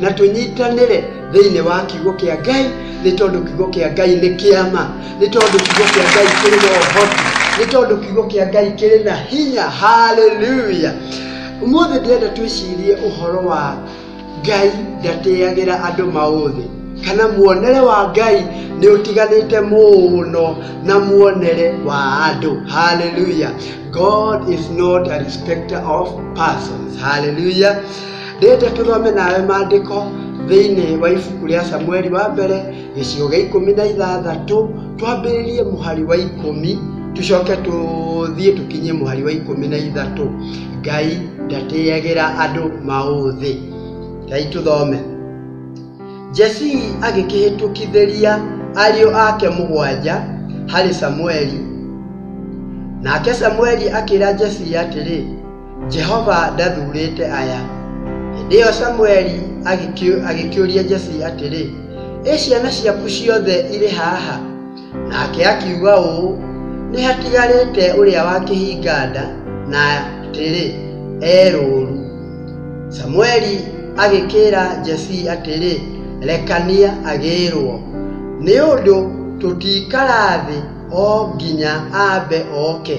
na tũnyitanĩre thĩinĩ wa kiugo kĩa Ngai nĩ tondũ kiugo kĩa Ngai nĩ kĩama, nĩ tondũ kiugo kĩa Ngai kĩrĩ na ũhoti, nĩ tondũ kiugo kĩa Ngai kĩrĩ na hinya. Haleluya! Ũmũthĩ ndĩrenda twĩcirie ũhoro wa Ngai ndatĩagĩra andũ maũthĩ kana muonere wa Ngai nĩ ũtiganĩte mũno na muonere wa andũ. Haleluya! God is not a respecter of persons. Haleluya! Ndĩrenda tũthome nawe maandĩko thĩinĩ wa ibuku rĩa Samueli wa mbere gĩcigo gĩa ikũmi na ithathatũ twambĩrĩrie mũhari wa ikũmi tũcoke tũthiĩ tũkinye mũhari wa ikũmi na ithatũ ngai ndatĩyagĩra andũ maũthĩ ngai tũthome jesii agĩkĩhĩtũkithĩria ariũ ake mũgwanja harĩ samueli nake samueli akĩra jesii atĩrĩ Jehova ndathurĩte aya. Hĩndĩ ĩyo Samueli agĩkĩũria Jesi atĩrĩ, ĩ ciana ciaku ciothe irĩ haha? Nake akiuga ũũ, nĩ hatigarĩte ũrĩa wa kĩhinganda na atĩrĩ, e rũũru. Samueli agĩkĩra Jesi atĩrĩ, rekania agĩrwo, nĩ ũndũ tũtiikara thĩ o nginya ambe oke.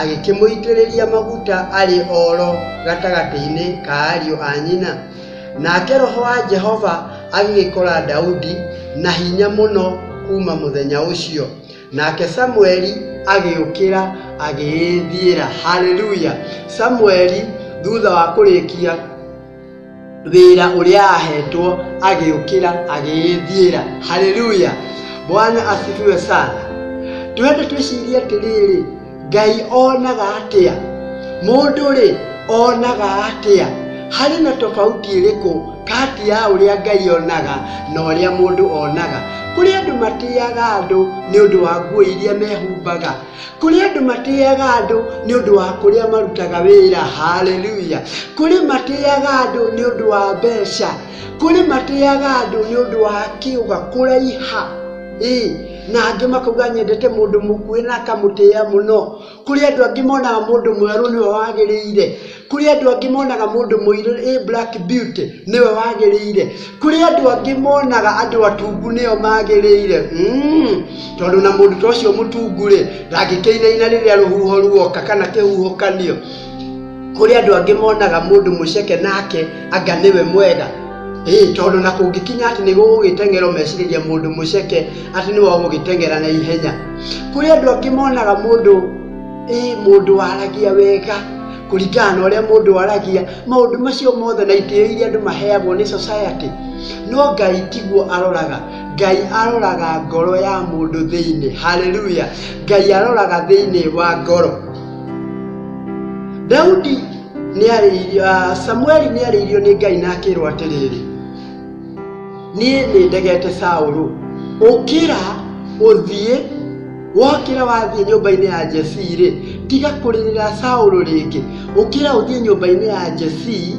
agĩkĩmũitĩrĩria maguta arĩ oro gatagatĩ-inĩ ka ariũ a nyina nake roho wa jehova agĩgĩkora daudi na hinya mũno kuma mũthenya ũcio nake samueli agĩũkĩra agĩĩthiĩra haleluya samueli thutha wa kũrĩkia wĩra ũrĩa ahetwo agĩũkĩra agĩĩthiĩra haleluya bwana asifiwe sana twende twĩcirie atĩrĩrĩ ngai onaga atĩa mũndũ rĩ onaga atĩa harĩ na tofauti ĩrĩkũ kati ya ũrĩa ngai onaga na ũrĩa mũndũ onaga kũrĩ andũ matĩaga andũ nĩ ũndũ wa nguo iria mehumbaga Kũrĩ andũ matĩaga andũ nĩ ũndũ wa kũrĩa marutaga wĩra. Haleluya! Kũrĩ matĩaga andũ nĩ ũndũ wa mbeca. Kũrĩ matĩaga andũ nĩ ũndũ wa kĩũga kũraiha. Ĩĩ, na angĩ makauga nyendete mũndũ mũkuĩ na akamũtĩa mũno. Kũrĩ andũ angĩ monaga mũndũ mwerũ nĩwe wagĩrĩire. Kũrĩ andũ angĩ monaga mũndũ mũirũ ĩ black beauty nĩwe wagĩrĩire. Kũrĩ andũ angĩ monaga andũ atungu nĩo magĩrĩire. Tondũ na mũndũ ta ũcio mũtungu rĩ, ndangĩkĩinaina rĩrĩa rũhuho ruoka kana kĩhuhũkanio. Kũrĩ andũ angĩ monaga mũndũ mũceke nake anga nĩwe mwega. Ĩĩ tondũ na kũngĩkinya atĩ nĩ gũgũgĩteng'erwo mecirĩria mũndũ mũceke atĩ nĩwe ũgũgĩteng'era na ihenya. Kũrĩ andũ angĩ monaga mũndũ... ĩ mũndũ waragia wega kũringana na ũrĩa mũndũ aragia maũndũ macio mothe na itĩo iria andũ maheagwo nĩ society no ngai tiguo aroraga ngai aroraga ngoro ya mũndũ thĩinĩ haleluya ngai aroraga thĩinĩ wa ngoro daudi nĩarĩirio ah, samueli nĩarĩirio nĩ ngai na akĩrwo atĩrĩrĩ niĩ nĩ ndegete saũlũ ũkĩra ũthiĩ wokĩra wathiĩ nyũmba-inĩ ya jesii rĩ tiga kũrĩrĩra saũlũ rĩngĩ ũkĩra ũthiĩ nyũmba-inĩ ya jesii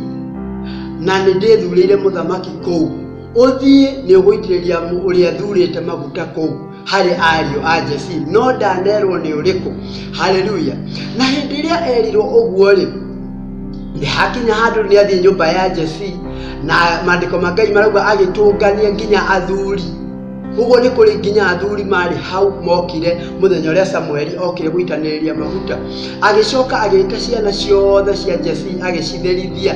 na nĩ ndĩthurĩire mũthamaki kũu ũthiĩ nĩ ũgũitĩrĩria ũrĩa thurĩte maguta kũu harĩ ariũ a Jesii no ndanerwo nĩ ũrĩkũ haleluya na hĩndĩ ĩrĩa erirwo ũguo rĩ nĩ hakinya handũ nĩ athiĩ nyũmba ya Jesii na maandĩko ma Ngai marauga agĩtũngania nginya athuri ũguo nĩ kũrĩ nginya athuri marĩ hau mokire mũthenya ũrĩa samueli okire gũitanĩrĩria maguta agĩcoka agĩĩta ciana ciothe cia jesi agĩcitherithia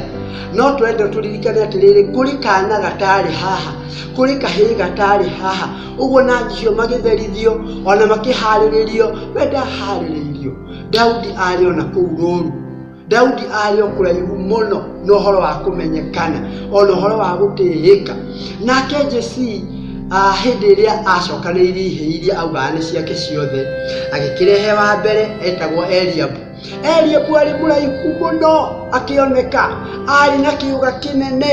no twende tũririkane atĩrĩrĩ kũrĩ kana gatarĩ haha kũrĩ kahĩĩ gatarĩ haha ũguo na njihio magĩtherithio o na makĩharĩrĩrio we ndaharĩrĩirio daudi arĩ o na kũu rũũru daudi arĩ o kũraihu mũno na ũhoro wa kũmenyekana o na ũhoro wa gũtĩĩka nake jesii ah, hĩndĩ ĩrĩa acokanĩirie ihĩĩ iria augaga nĩ ciake ciothe agĩkĩrehe wa mbere etagwo eliabu Eliabu arĩ mũraihu mũno akĩoneka arĩ na kĩũga kĩnene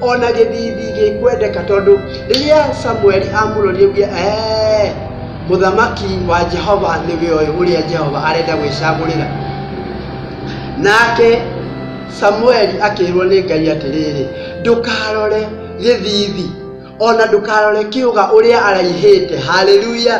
ona gĩthithi gĩkwendeka tondũ rĩrĩa samueli amũrorire uge "Eh, mũthamaki wa jehova nĩwe ũyũ ũrĩa jehova arenda gwĩcagũrĩra nake samueli akĩrwo nĩ ngai atĩrĩrĩ ndũkarore gĩthithi ona ndũkarore kĩũga ũrĩa araihĩte haleluya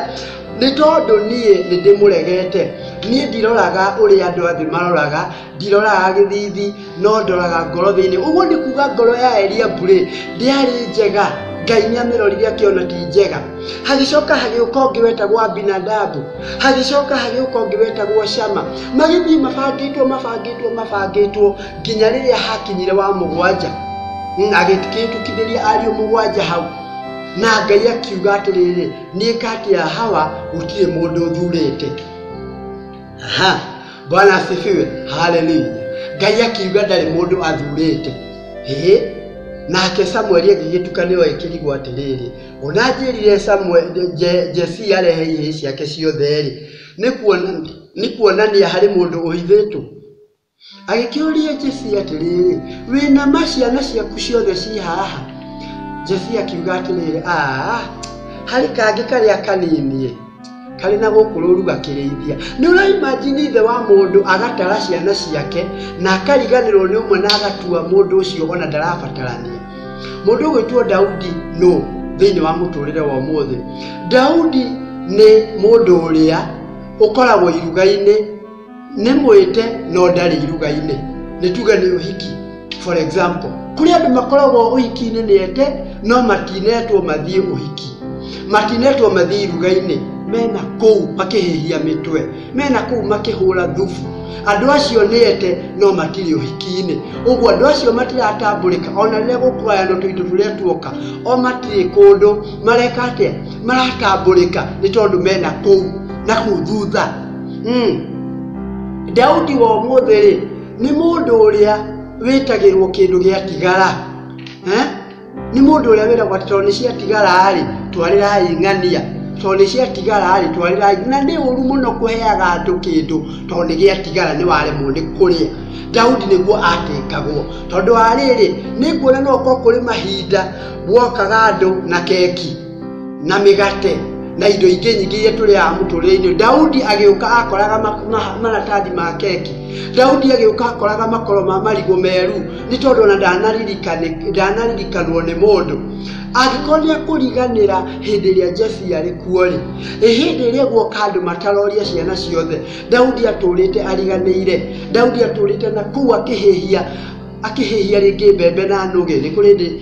nĩ tondũ niĩ nĩ ndĩmũregete niĩ ndiroraga ũrĩa andũ athĩ maroraga ndiroraga gĩthithi no ndoraga ngoro thĩinĩ ũguo nĩ kuga ngoro ya eria mbure ndĩarĩ njega ngai nĩ amĩrorire akĩona ti njega hagĩcoka hagĩũka ũngĩ wetagwo abinadabu hagĩcoka hagĩũka ũngĩ wetagwo shama magĩthiĩ mabangĩtwo mabangĩtwo mabangĩtwo nginya rĩrĩa hakinyire wa mũgwanja Mm, agĩkĩtũkithĩria ariũ mũgwanja hau na ngai akiuga atĩrĩrĩ nĩka atĩa hawa gũtirĩ mũndũ thurĩte Aha, bwana asifiwe haleluya ngai akiuga ndarĩ mũndũ athurĩte ĩĩ nake samueli agĩgĩtuka nĩwe ĩkĩrigwo atĩrĩrĩ ona njĩrire Samuel- Je- jesi arehe ihĩĩ ciake ciothe-rĩ nĩ kuona- nĩ kuonania harĩ mũndũ ũhithĩtwo Agĩkĩũria Jefia atĩrĩrĩ, wĩ na ma ciana ciaku ciothe ci haha? Jefia akiuga atĩrĩrĩ, aa, harĩ kangĩ karĩa kanini karĩ na gũkũ rũru gakĩrĩithia. Nĩ ũraimajini ithe wa mũndũ agatara ciana ciake na akariganĩrwo nĩ ũmwe na agatua mũndũ ũcio ona ndarabatarania. Mũndũ ũgwĩtwo Daudi nũ thĩinĩ wa mũtũrĩre wa ũmũthĩ? Daudi nĩ mũndũ ũrĩa ũkoragwo iruga-inĩ Nĩ mwĩte no ndarĩ iruga-inĩ, nĩ tuge nĩ ũhiki for example. Kũrĩ andũ makoragwo ũhiki-inĩ nĩ ete no matinetwo mathiĩ ũhiki, matinetwo mathiĩ iruga-inĩ, mena kũu makĩhĩhia mĩtwe, mena kũu makĩhũra thubu. Andũ acio nĩ ete no matirĩ ũhiki-inĩ. Ũguo andũ acio matiratambũrĩka ona rĩrĩa gũkũgayano tũindo tũrĩa tuoka, o matirĩ kũndũ mareka atĩa, maratambũrĩka nĩ tondũ mena kũu na kũu thutha. Daudi wa ũmũthĩ-rĩ, nĩ mũndũ ũrĩa wĩtagĩrwo kĩndũ gĩatigara. Nĩ mũndũ ũrĩa wĩragwo atĩ tondũ nĩ ciatigara-rĩ, twarĩrai ng'ania, tondũ nĩ ciatigara-rĩ, twarĩrai, na nĩ ũru mũno kũheaga andũ kĩndũ tondũ nĩ gĩatigara nĩ waremwo nĩ kũrĩa. Daudi nĩguo atĩngagwo. Tondũ wa rĩrĩ, nĩ nguona no gũkorwo kũrĩ mahinda gwokaga andũ na keki. na mĩgate na indo ingĩ nyingĩ iria tũrĩaga mũtũrĩre-inĩ ũyũ. daudi agĩũka akoraga ma- ma- maratathi ma keki daudi agĩũka akoraga makoro ma marigũ meru nĩ tondũ ona ndanaririkanĩ- ndanaririkanwo nĩ mũndũ angĩkorwo nĩ akũriganĩra hĩndĩ ĩrĩa jefi arĩ kuo-rĩ ĩ hĩndĩ ĩrĩa guoka andũ mataroria ciana ciothe daudi atũrĩte ariganĩire daudi atũrĩte na kũu akĩhĩhia akĩhĩhia rĩngĩ mbembe na nũgĩ nĩ kũrĩ ndĩ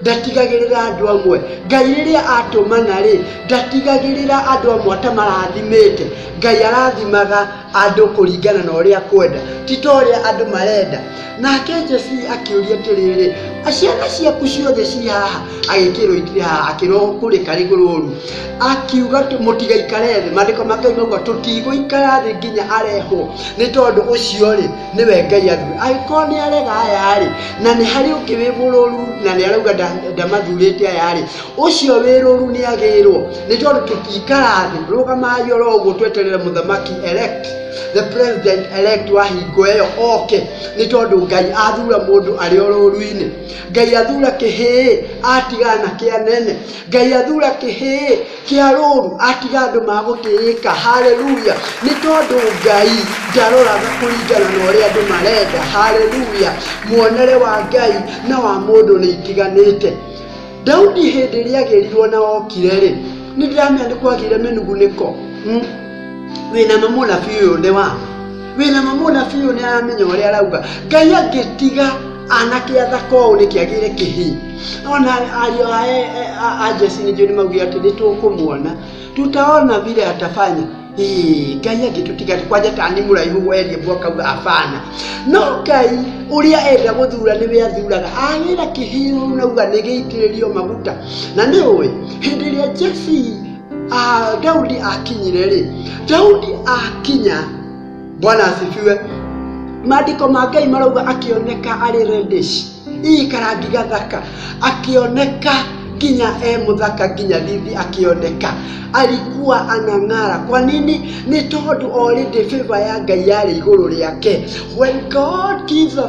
ndatigagĩrĩra andũ amwe ngai rĩrĩa atũmana rĩ ndatigagĩrĩra andũ amwe ata marathimĩte ngai arathimaga andũ kũringana na ũrĩa kwenda ti ta ũrĩa andũ marenda nake jesi akĩũria atĩrĩrĩ ciana ciaku ciothe ci haha agĩkĩrwo itirĩ haha akĩrwo kũrĩ karĩ rũru akiuga atĩ mũtigaikare thĩ mandĩko ma ngai mauga tũtigũikara thĩ nginya arehwo nĩ tondũ ũcio rĩ nĩwe ngai athuri angĩkorwo nĩ arega aya-rĩ na nĩ harĩ ũngĩ wĩ mũrũru na nĩ arauga nda- ndamathurĩte aya-rĩ ũcio wĩ rũru nĩ agĩrwo nĩ tondũ tũtiikara thĩ rũgamai oro ũguo tweterere mũthamaki elect the president elect wa hingo ĩyo oke nĩ tondũ ngai athura mũndũ arĩ o rũru-inĩ ngai athura kĩhĩĩ atigana na kĩa nene ngai athura kĩhĩĩ kĩa rũũru atiga andũ magũtĩĩka. Haleluya! Nĩ tondũ Ngai ndaroraga kũringana na ũrĩa andũ marenda. Haleluya! Muonere wa Ngai na wa mũndũ nĩ itiganĩte. Daudi hĩndĩ ĩrĩa agĩrirwo na okire rĩ, nĩ ndĩramenya nĩ kwagĩire mĩnugunĩko. Hmm? Wĩna ma mũnabii ũyũ nĩ wa wĩna mamũna biũ nĩ aramenya ũrĩa arauga ngai angĩtiga anake athaka ũũ nĩ kĩagĩre kĩhi ona ariũ a e- e- a- a jesi nĩ njũĩ nĩ maugire atĩ nĩ tũkũmuona tutaona vile atafanya Ĩĩ, ngai angĩtũtiga kwanja ta nĩ mũraihu werie mbu akauga abana no ngai ũrĩa enda gũthura nĩwe athuraga agĩra kĩhiũ nauga nĩ gĩitĩrĩrio maguta na nĩ ũĩ hĩndĩ ĩrĩa jesi Ah, Daudi akinyire rĩ, Daudi akinya, Bwana asifiwe. Maandĩko ma Ngai marauga akĩoneka arĩ reddish, ii karangi gathaka, akĩoneka nginya e mũthaka nginya thithi akĩoneka alikuwa anang'ara kwa nini nĩ tondũ already favor ya ngai yarĩ igũrũ rĩake when god gives a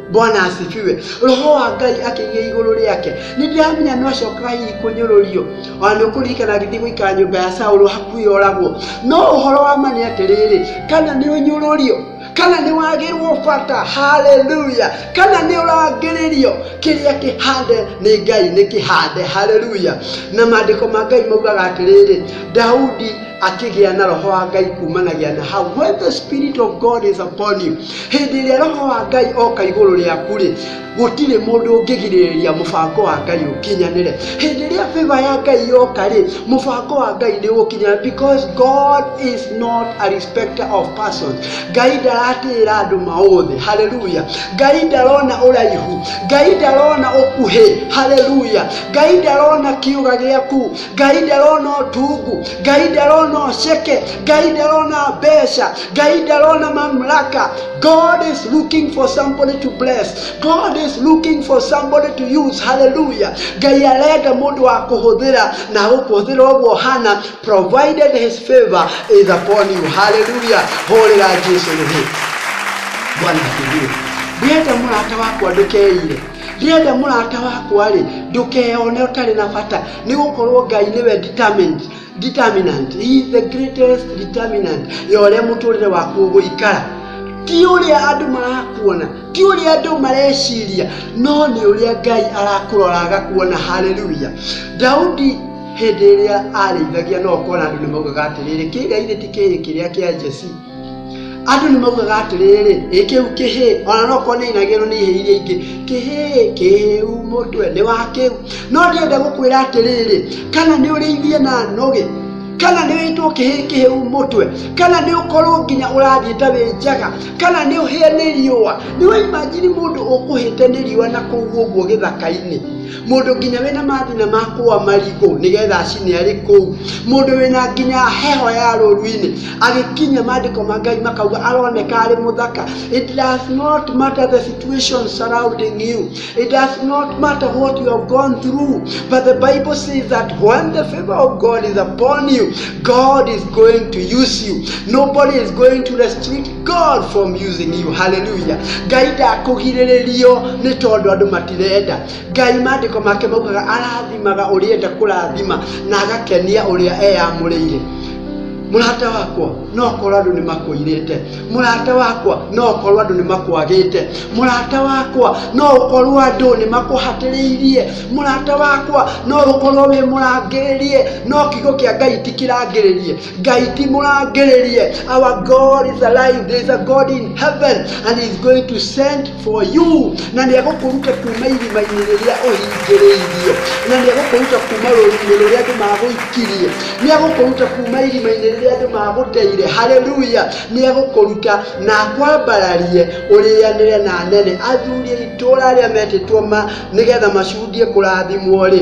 bwana asifiwe roho wa ngai akĩgĩa igũrũ rĩake nĩ ndĩramenya nĩ acokaga hihi kũnyũrũrio ona nĩ ũkũririkana agĩthiĩ gũikara nyũmba ya saũlũ hakuhĩ oragwo no ũhoro wa ma nĩ atĩrĩrĩ kana nĩ ũnyũrũrio kana nĩ wagĩrwo bata haleluya kana nĩ ũrangĩrĩrio kĩrĩa kĩhande nĩ ngai nĩ kĩhande haleluya na maandĩko ma ngai maugaga atĩrĩrĩ daudi akĩgĩa na roho wa ngai kumanagia na hau when the spirit of god is upon you Hĩndĩ ĩrĩa Roho wa Ngai oka igũrũ rĩaku-rĩ, gũtirĩ mũndũ ũngĩgirĩrĩria mũbango wa Ngai ũkinyanĩre. Hĩndĩ ĩrĩa favor ya Ngai yoka-rĩ, mũbango wa Ngai nĩ ũgũkinya because God is not a respecter of persons. Ngai ndaratĩĩra andũ maũthĩ. Hallelujah. Ngai ndarona ũraihu. Ngai ndarona ũkuhĩ. Hallelujah. Ngai ndarona kĩũga gĩaku. ngai ndarona ũtungu ngai ndarona ũceke ngai ndarona mbeca ngai ndarona mamlaka god is looking for somebody to bless god is looking for somebody to use hallelujah ngai arenda mũndũ wa kũhũthĩra na gũkũhũthĩra ũguo hana provided his favor is upon you hallelujah hũrĩra jesu rĩhĩ bwana asifiwe ndĩrenda mũrata wakwa ndũkeire ndĩrenda mũrata wakwa-rĩ ndũkeone ũtarĩ na bata nĩ gũkorwo ngai nĩwe determined determinant he is the greatest determinant ya ũrĩa mũtũrĩre waku ũgũikara ti ũrĩa andũ marakuona ti ũrĩa andũ mareciria no nĩ ũrĩa ngai arakũrora agakuona haleluya daudi hĩndĩ ĩrĩa arĩithagia no ũkona andũ nĩ maugaga atĩrĩrĩ kĩgai gĩti kĩrĩ kĩrĩa kĩa jesi andũ nĩ maugaga atĩrĩrĩ ĩ kĩu kĩhĩ ona no korwo nĩ inagĩrwo nĩ ihĩ iria ingĩ kĩhĩ kĩu mũtwe nĩ wa kĩu no ndĩende gũkwĩra atĩrĩrĩ kana nĩ ũrĩithie na nũgĩ kana nĩ wĩtwo kĩhĩ kĩhĩu mũtwe kana nĩ ũkorwo nginya ũrathiĩ ta wĩ njaga kana nĩ ũhĩe nĩ riũa nĩ waimajini mũndũ ũkũhĩte nĩ riũa na kũu ũguo gĩthaka-inĩ mũndũ nginya wĩna mathina ma kũa marigũ nĩgetha acine arĩ kũu mũndũ wĩna nginya heho ya rũru-inĩ agĩkinya maandĩko ma ngai makauga aroneka arĩ mũthaka it does not matter the situation surrounding you it does not matter what you have gone through but the bible says that when the favor of god is upon you god is going to use you nobody is going to restrict God from using you haleluya ngai ndakũgirĩrĩrio nĩ tondũ andũ matirenda ngai maandĩko make maugaga arathimaga ũrĩa enda kũrathima na agakenia ũrĩa eyamũrĩire mũrata wakwa no korwo andũ nĩ makũirĩte mũrata wakwa no korwo andũ nĩ makwagĩte mũrata wakwa no ũkorwo andũ nĩ makũhatĩrĩirie mũrata wakwa no ũkorwo wĩ mũrangĩrĩrie no kiugo kĩa ngai ti kĩrangĩrĩrie Ngai ti mũrangĩrĩrie. Our God is alive. There is a God in heaven and he is going to send for you. Na nĩ egũkũruta kuma irima-inĩ rĩrĩa ũhingĩrĩirio. Na nĩ egũkũruta kuma rũru-inĩ rũrĩa andũ magũikirie. Nĩ egũkũruta kuma irima-inĩ rĩrĩa andũ magũteire. Haleluya. Nĩ egũkũruta na akwambararie ũrĩanĩre na anene. Athuri a itũũra arĩa metĩtwo ma nĩgetha macundie kũrathimwo rĩ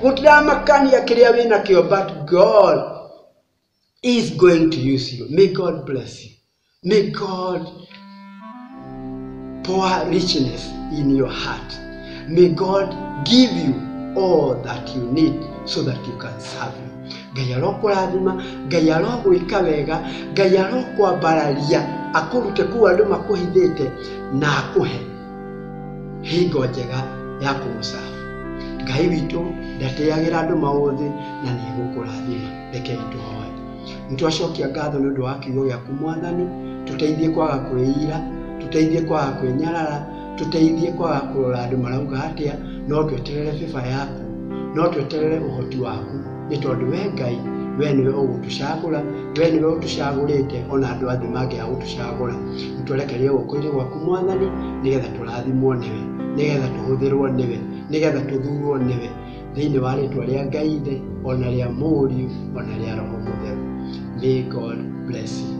Good luck, Makania, Kiria, Wina, Kio, but God is going to use you. May God bless you. May God pour richness in your heart. May God give you all that you need so that you can serve him. Ngai arokũrathima, Ngai arogwĩka wega, Ngai arokwambararia, akũrute kũu andũ makũhithĩte na akũhe hingo njega ya kũmũcabu ngai witũ ndatĩagĩra andũ maũthĩ na nĩ egũkũrathima rekei tũhoe nĩ twacokia ngatho nĩ ũndũ wa kiugo gĩaku mwathani tũteithie kwaga kwĩira tũteithie kwaga kwĩnyarara tũteithie kwaga kũrora andũ marauga atĩa no tweterere bĩba yaku no tweterere ũhoti waku nĩ tondũ we ngai we nĩwe ũgũtũcagũra we nĩwe ũtũcagũrĩte ona andũ athĩ mangĩaga gũtũcagũra nĩtũrekererie guoko-inĩ gwaku mwathani nĩgetha tũrathimwo nĩwe nĩgetha tũhũthĩrwo nĩwe nĩgetha tũthurwo nĩwe thĩinĩ wa rĩtwa rĩa ngai thĩ ona rĩa mũriũ ona rĩa roho mũtheru may god bless you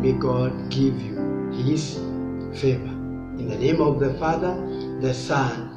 may god give you his favor in the name of the father the son